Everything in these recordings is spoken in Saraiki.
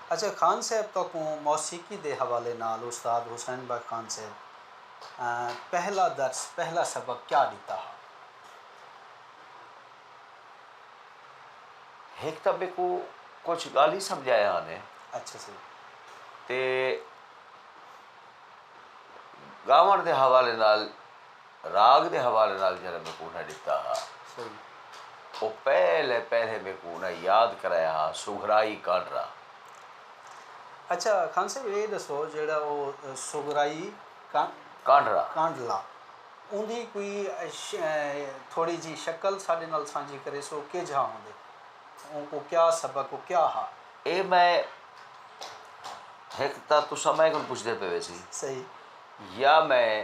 اچھا خان صیب تہاکوں موسیقی دے حوالے نال استاد حسین بخش خان صیب پہلا درس، پہلا سبق کیا ݙتا ہا؟ ہک تاں میکوں کجھ ڳالھیں سمجھایا ہن اے۔ اچھا سر۔ تے ڳاوݨ دے حوالے نال۔ راگ دے حوالے نال جیرھا میکوں انہاں ݙتا ہا او پہلے پہلے میکوں انہاں یاد کرایا ہا سگھرائی کانڈرا۔ اچھا خان صاحب اے ݙسو جیرھا او سگھرائی کانڈرا کانڈلا اوندی کوئی تھوڑی جی شکل ساݙے نال سانجھی کریسو کیجھا ہوندے اونکوں کیا سبق و کیا ہا؟ اے میں ہک تاں تساں میں کوں پچھدے پئے ویسی یا میں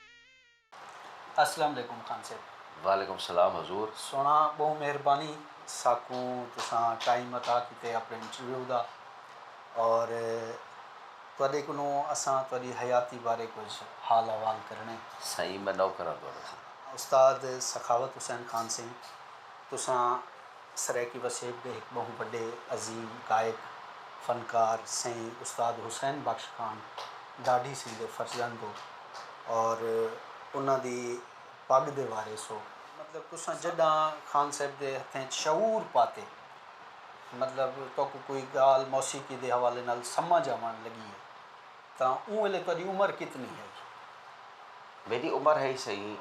اسلام علیکم خان صیب۔ وعلیکم السلام حضور۔ سوہݨا ٻہوں مہربانی ساکوں تساں ٹائم عطا کیتے اپݨے انٹرویو دا اور تہاݙے کنوں اساں تہاݙی حیاتی بارے کجھ حال احوال کرݨے۔ سائیں میں نوکر ہاں تہاݙا۔ استاد سخاوت حسین خان سئیں۔ تساں سرائیکی وسیب دے ہک ٻہوں وݙے عظیم گائک، فنکار سئیں استاد حسین بخش خان ݙاڈھی سنگھ دے فرزند ہو اور انہاں دی پڳ دے وارث ہو۔ مطلب تساں جݙاں خان صاحب دے ہتھیں اچ شعور پاتے مطلب تہاکوں کوئی ڳالھ موسیقی دے حوالے نال سمجھ آوݨ لڳی ہے۔ تاں اوں ویلے تہاݙی عمر کتنی ہئی؟ میݙی عمر ہئی سئیں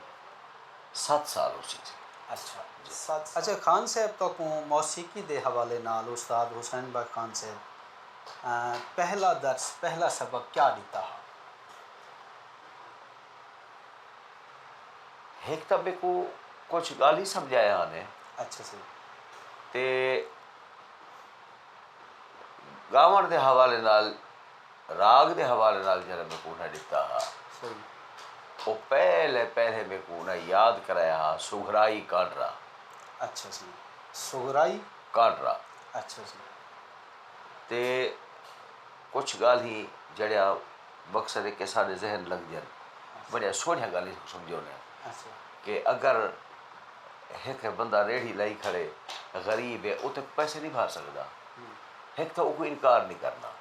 ست سال ہوسی جی۔ اچھا ست سال۔ اچھا خان صاحب تہاکوں موسیقی دے حوالے نال استاد حسین بخش خان صاحب پہلا درس، پہلا سبق کیا ݙتا ہا؟ ہک تاں میکوں کجھ ڳالھیں سمجھایا ہا نے۔ اچھا سئیں۔ تے ڳاوݨ دے حوالے نال۔ راگ دے حوالے نال جیرھا میکوں انہاں ݙتا ہا او پہلے پہلے میکوں انہاں یاد کرایا ہا سگھرائی کانڈرا اچھا جی سگھرائی کانڈرا اچھا جی تے کچھ ڳالھیں جڑیاں مقصد ہے کہ سارے ذہن لگ جن بڑیاں سوہنیاں ڳالھیں سمجھو نے اچھا۔ کہ اگر ہک بندہ ریڑھی لائی کھڑے غریب ہے او تے پیسے نہیں بھر سکدا ہک تھا او کوئی انکار نہیں کرنا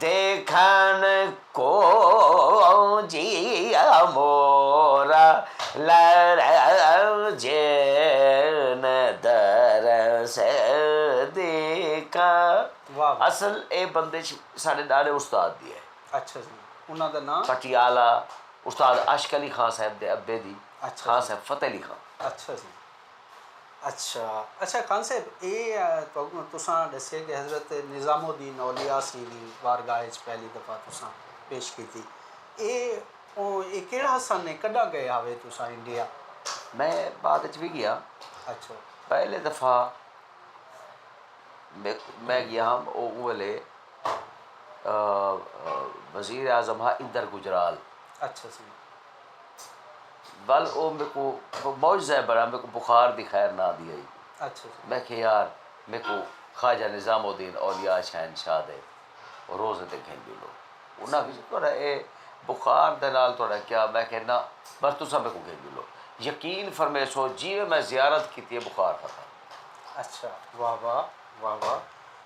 دیکھن کوں جی امورا لرزے نہ درس دیکھاں۔ واہ واہ۔ اصل اے بندش ساڈے ڈاڈے استاد دی ہے۔ اچھا جی انہاں دا ناں؟ پٹیالہ استاد عاشق علی خاں صاحب دے ابے دی۔ اچھا جی۔ خاں صاحب فتح علی خاں۔ اچھا جی۔ اچھا اچھا خان صاحب اے تساں ڈسے کہ حضرت نظام الدین اولیاء سی دی بارگاہ اچ پہلی دفعہ تساں پیش کیتی اے اے کیڑا سن اے کڈاں گئے ہاوے تساں انڈیا میں بعد اچ وی گیا اچھا پہلے دفعہ میں گیا ہاں او ویلے وزیر اعظم ہا اندر گجرال اچھا سی ول او میکوں معجزہ ہے برا میکوں بخار دی خیر نہ آندی ہئی اچھا جی میں کہ یار میکوں خواجہ نظام الدین اولیاء شہن شاہ دے روزے تے گھن جلو انہاں کہ تہاڈا اے بخار دے نال تہاڈا کیا میں کہ نہ بس تساں میکوں گھن جلو یقین فرمیسو جیویں میں زیارت کیتی ہے بخار ختم اچھا واہ واہ واہ واہ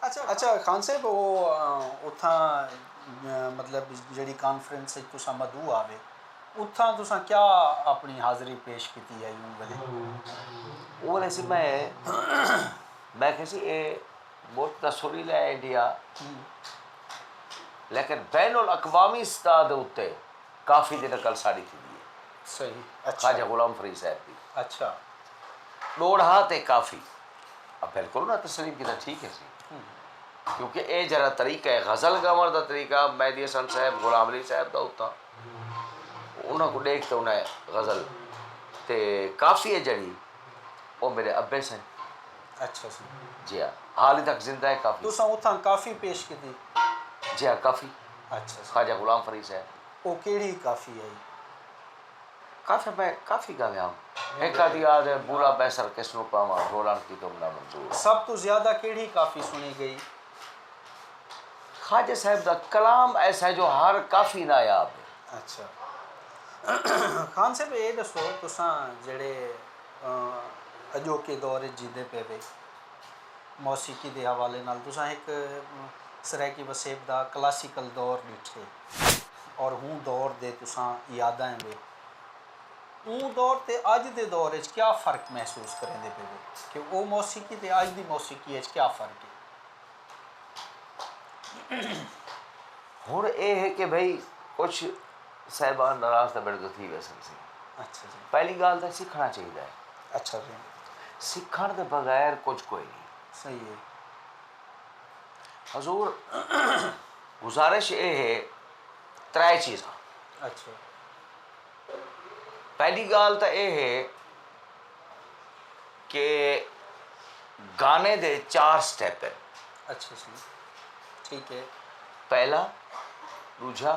اچھا خان صاحب او اتھاں مطلب جیڑھی کانفرنس اچ تساں مدعو آوے اتھاں تساں کیا اپنی حاضری پیش کیتی ہئی اوں ویلے؟ اوں ویلے سی میں میں کھے سی اے ملک تاں سریلا ہے انڈیا لیکن بین الاقوامی سطح دے اتے کافی دی نقل ساڈی تھیندی ہے۔ صحیح۔ خواجہ غلام فرید صاحب دی۔ اچھا۔ ڈوڑھا تے کافی۔ اب بالکل نہ تسلیم کیتا ٹھیک ہے سی کیونکہ اے جرا طریقہ ہے غزل گاون دا طریقہ مہدی حسن صاحب غلام علی صاحب دا ہوتا انہاں کو دیکھ تے انہاں غزل تے کافی ہے جڑی او میرے ابے سے اچھا سی جی ہاں حال تک زندہ ہے کافی تساں اتھاں کافی پیش کیتی جی ہاں کافی اچھا خواجہ غلام فرید صاحب او کیڑی کافی ہے کافی میں کافی گالیاں ہک آدھی آ دے بولا بیسر کس نوں پاواں ڈھولن کی تم نہ منظور۔ سب توں زیادہ کیڑھی کافی سنڑی گئی؟ خواجہ صاحب دا کلام ایسا ہے جو ہر کافی نایاب ہے۔ اچھا خان صاحب اے ڈسو تساں جیڑھے اجوکے دور اچ جیندے پے وے۔ موسیقی دے حوالے نال تساں ہک سرائیکی وسیب دا کلاسیکل دور ݙٹھے اور ہوں دور دے تساں یادائیں وے اوں دور تے اج دے دور اچ کیا فرق محسوس کریندے پئے وے کہ او موسیقی تے اج دی موسیقی اچ کیا فرق ہے۔ ہن اے ہے کہ بھئی کچھ صاحبان ناراض تاں میڈے توں تھی ویسن سی اچھا جی پہلی گال تاں سکھنا چاہیدا ہے اچھا جی سکھن دے بغیر کچھ کوئی نہیں صحیح ہے حضور گزارش اے ہے ترے چیزاں اچھا پہلی گال تاں اے ہے کہ گانے دے چار سٹیپ ہیں اچھا جی ٹھیک ہے پہلا دوجھا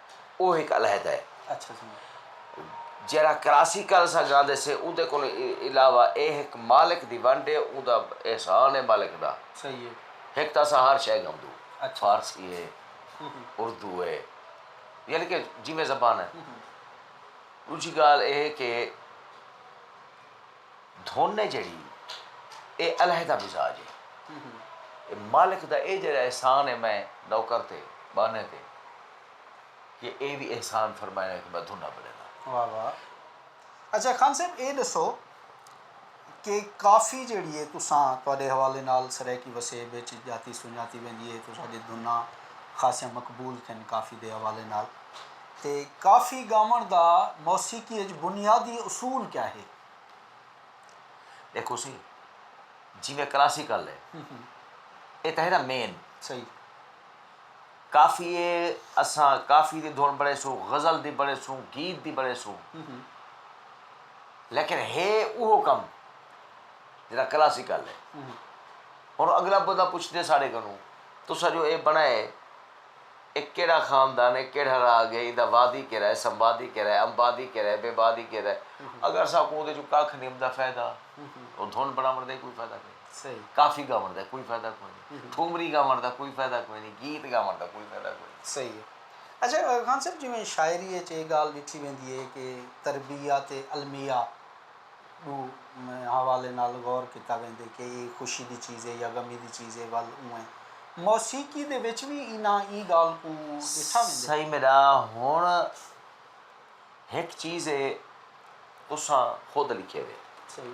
او ہک علیحدہ ہے۔ جیرھا کراسی کل اساں گاندے سے اوندے کولوں علاوہ اے ہک مالک دی ونڈ ہے اوندا احسان ہے مالک دا۔ ہک تاں اساں ہر شے گھمدوں فارسی ہے اردو ہے یعنی کہ جیویں زبان ہے۔ ݙوجھی ڳالھ اے ہے کہ دھن ہے جیڑھی اے علیحدہ مزاج ہے۔ اے مالک دا اے جیڑھا احسان ہے میں نوکر تے ٻانھے تے کہ اے وی احسان فرمائے نا کہ میں دھناں بݙینداں۔ واہ واہ اچھا خان صاحب اے ݙسو کہ کافی جیڑھی ہے تساں تہاݙے حوالے نال سرائیکی وسیب وچ ڄاتی سنڄاتی ویندی ہے تساݙی دھناں خاصیاں مقبول تھین کافی دے حوالے نال۔ تے کافی ڳاوݨ دا موسیقی اچ بنیادی اصول کیا ہے؟ ݙیکھو سی جیویں کلاسیکل ہے اے تاں ہے نا مین صحیح کافی ہے اساں کافی دی دھن بݨیسوں غزل دی بݨیسوں گیت دی بݨیسوں لیکن ہے اوہو کم جیڑھا کلاسیکل ہے ہݨ اگلا بندہ پچھدے ساݙے کنوں تساں جو اے بݨائے اے کیڑھا خاندان ہے، کیڑھا راگ ہے، ایندا وادی کیرا ہے، سمبادی کیرا ہے، امبادی کیرا ہے، بیبادی کیرا ہے۔ اگر اساکوں اوندے چوں ککھ نی امدا فائدہ او دھن بنڑاونڑ دا ای کوئی فائدہ کوئی نی، کافی گاونڑ دا کوئی فائدہ کوئی نی، ٹھومری گاونڑ دا کوئی فائدہ کوئی نی، گیت گاونڑ دا کوئی فائدہ کوئی نی۔ صحیح ہے۔ اچھا خان صاحب جیویں شاعری اچ اے گالھ ڈٹھی ویندی ہے کہ تربیت علمیہ، ݙو حوالیں نال غور کیتا ویندے کہ ایہ خوشی دی چیز ہے یا غمی دی چیز ہے ول اونویں موسیقی دے وچ وی انہاں ایں ڳالھ کوں ݙٹھا ویندے۔ سئیں میݙا ہݨ ہک چیز ہے تساں خود لکھیے دے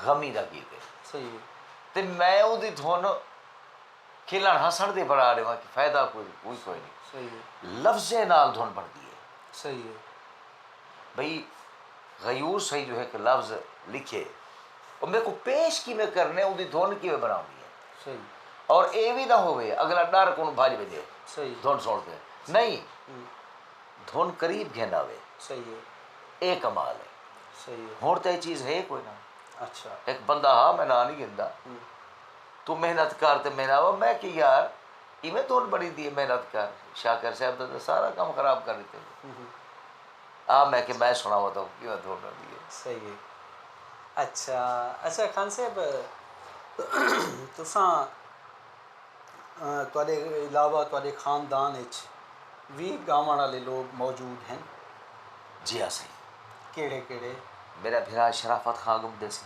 غمی دا گیت ہے تے میں اوندی دھن کھلݨ ہسݨ دی بݨا ݙیواں فائدہ کوئی کوئی نی لفظیں نال دھن بݨدی ہے۔ بھئی غیور سئیں جو ہک لفظ لکھیے او میکوں پیش کیویں کرنے اوندی دھن کیویں بناونی اے صحیح اور اے وی نہ ہووے اگلا ڈر کوں بھج ونجے صحیح دھن سن تے نہیں دھن قریب گھن آوے صحیح اے کمال اے صحیح ہن تے چیز ہے کوئی نہ اچھا ایک بندہ ہا میں نہ نہیں گھندا تو محنت کر تے میں نہ میں کہ یار کیویں توں بنی دی اے محنت کر شاکر صاحب دا تے سارا کم خراب کر ڈتے آ میں کہ میں سناوا توں کیویں توں بنی دی اے صحیح ہے اچھا اچھا خان صاحب تساں تواڈے علاوہ تواڈے خاندان اچ وی گاون والے لوگ موجود ہیں جی ہاں سائیں کیڑے کیڑے میرا بھرا شرافت خان گم دے سی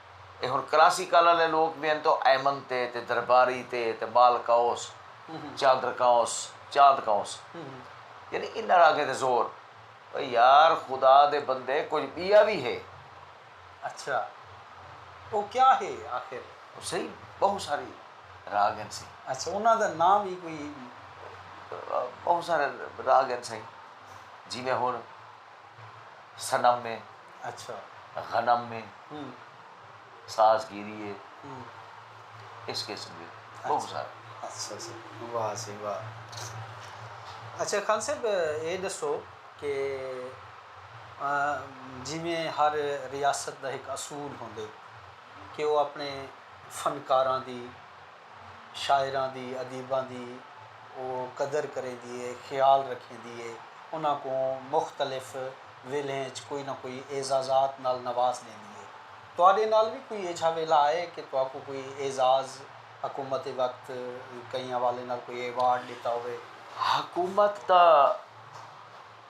اے ہن کراسی کل آلے لوک وی ہن تاں ایمن تے تے درباری تے تے بال کاؤس چادر کاؤس چاند کاؤس یعنی انہاں راگیں تے زور او یار خدا دے بندے کجھ بیا وی ہے اچھا او کیا ہے آخر او سئی بہو ساری راگ ہن سئی اچھا انہاں دا نام وی کوئی بہو سارے راگ ہن سئی جیویں ہن. صنم اے، غنم اے، ساز گیری اے، اس قسم دے بہوں سارے۔ اچھا جی واہ جی واہ اچھا خان صاحب اے ݙسو کہ جیویں ہر ریاست دا ہک اصول ہوندے کہ او اپݨے فنکاراں دی شاعراں دی، ادیباں دی او قدر کریندی ہے، خیال رکھیندی ہے، انہاں کوں مختلف ویلھیں اچ کوئی نہ کوئی اعزازات نال نواز ݙیندی ہے۔ تہاݙے نال وی کوئی ایجھا ویلھا آئے کہ تہاکوں کوئی اعزاز حکومت وقت کہیں حوالے نال کوئی ایوارڈ ݙتا ہووے؟ حکومت دا۔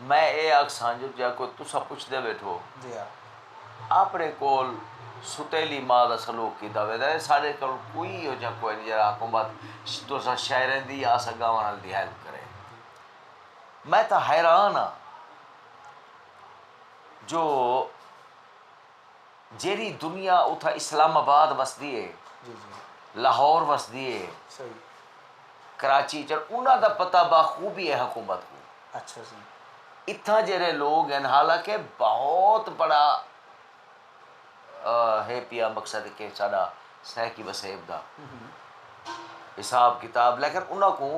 میں ایہ آکھساں جو جیکوں تساں پچھدے ویٹھو آپنڑے کول ستیلی ماء دا سلوک کیتا ویندا ہے ساڈے کول کوئی ایہو جیہا کوئے نی جیہڑا حکومت تساں شہریں دی یا اساں گاواں آلیاں دی ہیلپ کرے۔ میں تاں حیران ہاں جو۔ جیرھی دنیا اتھاں اسلام آباد وسدی ہے لاہور وسدی ہے کراچی چڑ انہاں دا پتہ باخوبی ہے حکومت کو اچھا جی اتھاں جیرے لوگ ہیں حالانکہ بہت بڑا ہے پیا مقصد کہ ساڈا سہکی وسیب دا حساب کتاب لیکن انہاں کو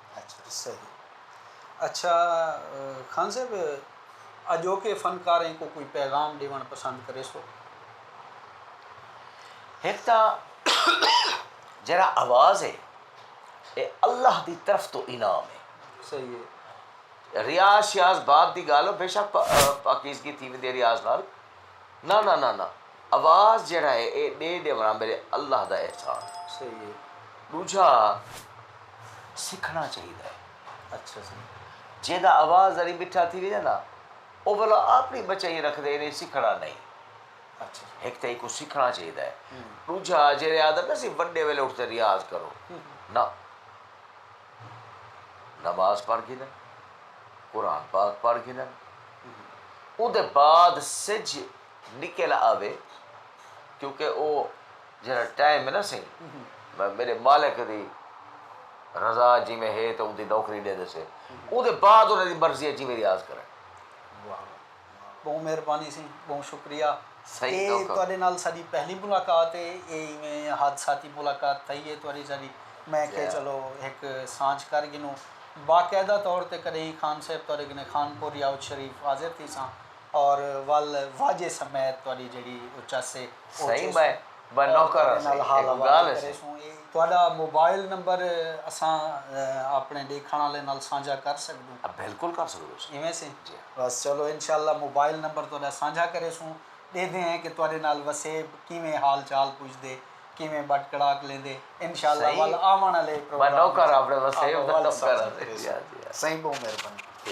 اچھا خان صاحب اجوکے فنکاریں کوں کوئی پیغام ڈیونڑ پسند کرے سو ہک تاں جیرا آواز ہے اے اللہ دی طرف تو انعام ہے صحیح ہے ریاض شیاض بعد دی گالو بے شک پاکیزگی تھی ویندی ریاض نال نہ نہ نہ نہ اواز جیڑھا ہے اے ڈے ڈیونڑاں میرے اللہ دا احسان ہے ڈوجھا سکھنڑاں چاہیدا ہے اچھا سر جیدا اواز ذری مٹھا تھی ویجے نا او بھلا اپنی بچائی رکھ دے انہیں سکھنڑاں نہیں اچھا ایک تے کو سکھنڑاں چاہیدا ہے ڈوجھا جیڑے آدم نا سی بڑے ویلے اٹھ تے ریاض کرو نا نماز پڑھ گھنن قرآن پاک پڑھ گھنن اودے بعد سج نکل آوے کیونکہ او جڑا ٹائم ہے نا سائیں میرے مالک دی رضا جی میں ہے تو اندی نوکری دے دے سے او دے بعد انہاں دی مرضی ہے جی میں ریاض کرے بہت مہربانی سی بہت شکریہ صحیح تواڈے نال ساڈی پہلی ملاقات ہے اے ایویں حادثاتی ملاقات تھئی ہے تواڈی ساڈی میں کہ چلو ایک سانچ کر گنوں باقاعدہ طور تے کدی خان صاحب تواڈے کنے خان پور یاوت شریف حاضر تھی ساں اور ول واجے سمیت تہاڈی جیہڑی او چاسے او سئیں چیسوں۔ میں با نوکر ہاں سئیں اے کوئی گالھ ہے سئیں۔ تہاڈا موبائل نمبر اساں اپنے ڈیکھن آلیں نال سانجھا کر سگدوں۔ ہاں بلکل کر سگدوں سئیں۔ ایویں سئیں؟ جی ہاں۔ بس چلو انشاءاللہ موبائل نمبر تہاڈا سانجھا کریسوں۔ ڈیہدے ہیں کہ تہاڈے نال وسیب کیویں حال چال پوچھدے، کیویں بٹ کڑاک لیندے۔ انشاءاللہ ول آون آلے پروگرام وچ آپاں ول سانجھا کریسوں۔ سئیں بہوں مہربانی۔